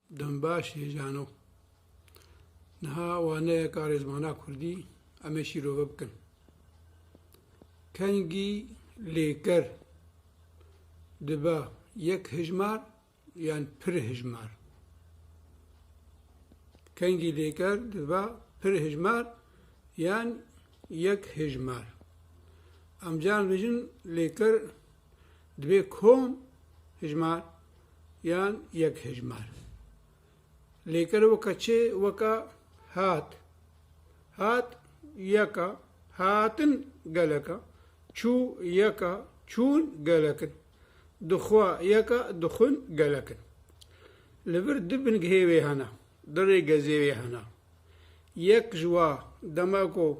Dem baş hêjano. Niha waneyeka rêzmana kurdî em ê şîrove bikin. Kengî lêker dibe yek hijmar yan pir hijmar. Kengî lêker dibe pir hijmar yan yek hijmar. Em can vijin lêker Divê kom hijmar yan yek hijmar lêkere weka çi weka hat, hat yeka, hatin geleka, çû yeka, çûn gelek in, dixwa yeka, dixwin gelek in. Li vir du bingehê wê hene, du rêgezê wê hene. Yek ji wa dema ku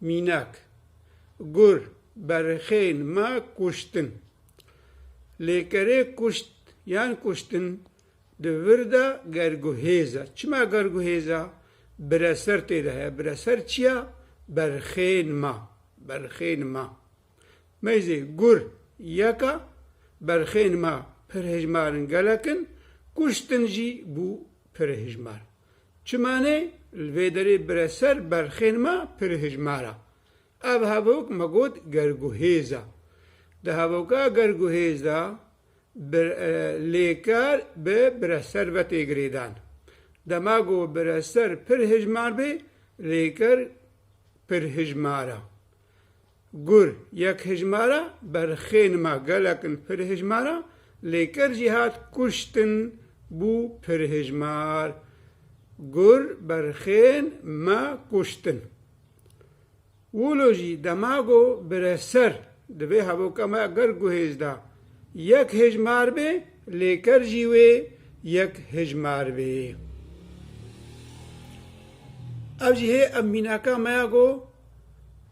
Mînak, Gur berxeyên me kuştin. Lêkerê kuşt yan kuştin di vir de gerguhêz e. Çima gerguhêz e? Bireser tê de heye. Bireser çi ye? Berxeyên me. Berxeyên me. Meyzê gur yek e. Berxeyên me pir hejmar in, gelek in. Kuştin jî bû pir hejmar. Çimanê li vê derê bire ser berxên me pir hijmar e. Ev hevok me got gerguhêz e. Di hevoka gerguhêz de bir lêker bi bireser ve tê girêdan. Dema ku bireser pir hijmar bê lêker pir hijmar e. Gur, yek hejmara berxên ma gelek in pirhejmara lêker jî hat kuştin bû pirhejmar Gur berxên me kuştin. Wilo jî dema go bire ser divê hevoka me ger guhêz da yek hejmar bê lêker jî wê yek hejmar bê. Ev jî hê em mînaka me ya go.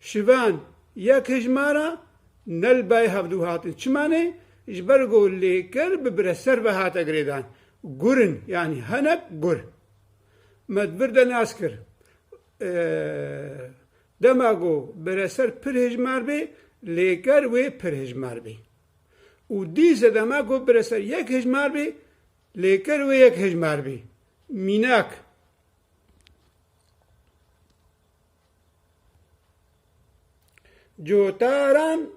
Şivan, Yek hejmara Nelbay hevdu hatin. Çima ne? Ji ber ku lêker bi bireser ve hate girêdan. Gur in, yanî hinek gur. Me di vir de nas kir. Dema ku bireser pir hejmar bê, lêker wê pir hejmar bê. Û dîse dema ku bireser yek hejmar bê, lêker wê yek hejmar bê. Mînak. Cotaran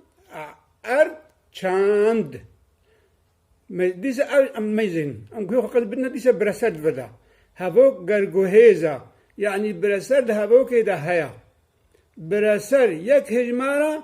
erd çand. Dîsa ew em mêzin. Em ku xwe qet bidin dîsa bireserd vida. Hevok gerguhêza yanî bireserd hevokê de heya. Bireser yek hejmara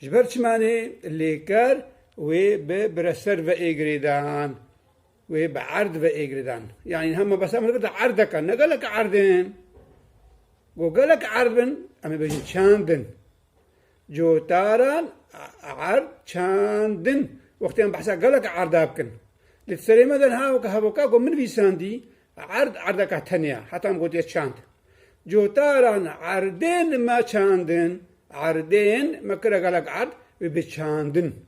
Ji ber çima nê lêker wê bi bireser veê girêdan, wê bi erd veê girêdan. Yanî niha mebesta min dibirte erdek e, ne gelek erd in. Go gelek erd bin, em ê bêjin çand in. Cotaran erd çand in. Wextê em behsa gelek erda bikin. Lê di serê me de niha weke hevoka ku min vîsandî, Erd erdeka tenya, heta em gotiye çand. Cotaran erdên me çandin, erdên me kire gelek erd wê bi çandin.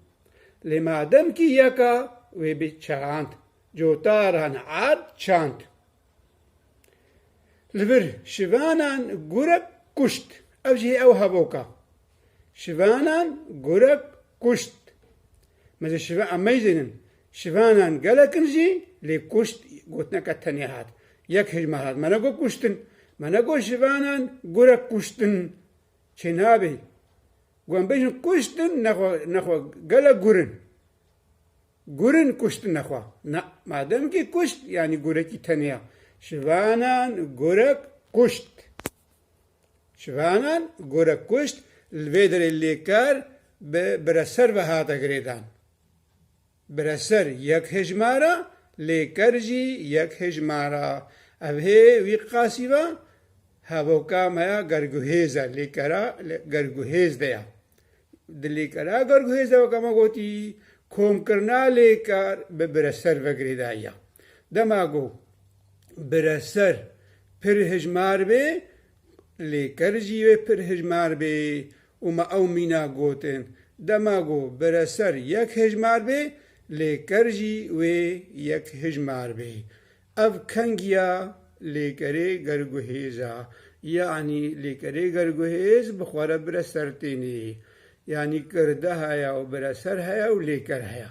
Lê ma demkî yeka wê bi çand. Cotaran erd çand. Li vir şivanan gurek kuşt. Ev jî hê ew hevoka. Şivanan gurek kuşt. Me ji şiva em meyzênin. Şivanan gelek in jî lê kuşt gotineke tenê hat. Yek hêjmar hat. Me negot kuştin. Me negot şivanan gurek kuştin. Çênabê. Ku em bêjin kuştin nexwe gelek gur in. Gur in kuştin nexwe. Na. Mademkî kuşt yanî gurekî tenê ya. Şivanan gurek kuşt. Ciwanan gorek kuşt li vê derê lê kar bi bireser ve hate girêdan. Bireser yek hejmara, lê ker jî yek hejmara. Ev hê wî qasî va, hevoka me ya gerguhêz e, lê kera li gerguhêz de ye. Di lê kera gerguhêz de weke me gotî, komkirina lê kar bi bireser ve girêdayiya. Dema ku Bireser pir hijmar bê, lê ker jî wê pir hijmar bê û me ew mîna gotin. Dema ku bireser yek hijmar bê, lê ker jî wê yek hijmar bê. Ev kengiya lêkerê gerguhêz a. Yanî lêkerê gerguhêz bi xwe re bireser tênê. Yanî kirde heye û bireser heye û lêker heye.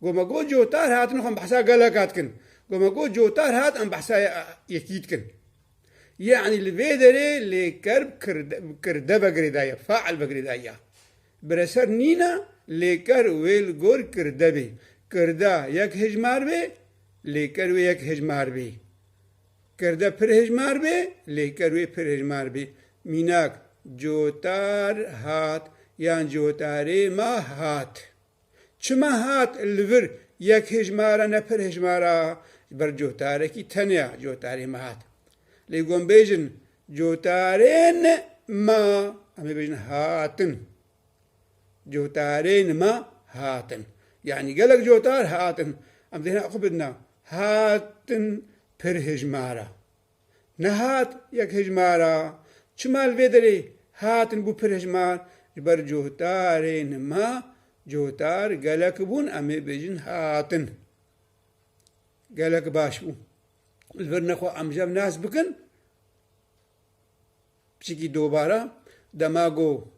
Ku me got cotar hat nixwe em behsa geleka dikin. Ku me got cotar hat em behsa yekî dikin. Yanî li vê derê lêker bi kirde ve girêdaye, fail ve girêdaye. Bi re ser nîne lêker wê li gor kirde bê. Kirde yek hejmar bê, lêker wê yek hejmar bê. Kirde pir hejmar bê, lêker wê pir hejmar bê. Mînak, cotar hat yan cotarê me hat. Çima hat li vir yek hejmara ne pir hejmara ber cotarekî teneya cotarê me hat. Lê gon bêjin cotarên ma em ê bêjin hatin. Cotarên ma hatin. Yanî gelek cotar hatin. Em dê hina xwe bidina hatin pir hejmara. Nehat yek hejmara, çima li vê derê hatin bû pir hejmar, ji ber cohdarê nima, cohdar gelek bûn em ê bêjin hatin. Gelek baş bû. Li vir ne xwe amjev nas bikin. Piştî dubara dema ku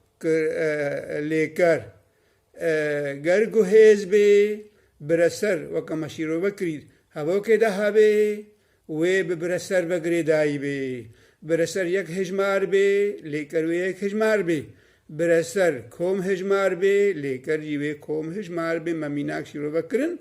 lêker ger guhêz bê, bireser weke me şîrove kirî hevokê de hebê, wê bi bireser ve girê dayîbê. Bireser yek hejmar bê, lêker wê yek hejmar bê. Bireser kom hejmar bê, lêker jî wê kom hejmar bê. Me mînak şîrove kirin.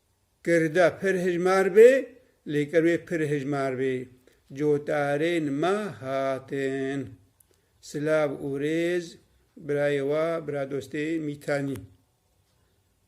Girda pir hijmar bê, lê ger wê pir hijmar bê, cotarên me hatin. Silav û rêz birayê we, biradostê Mîtanî.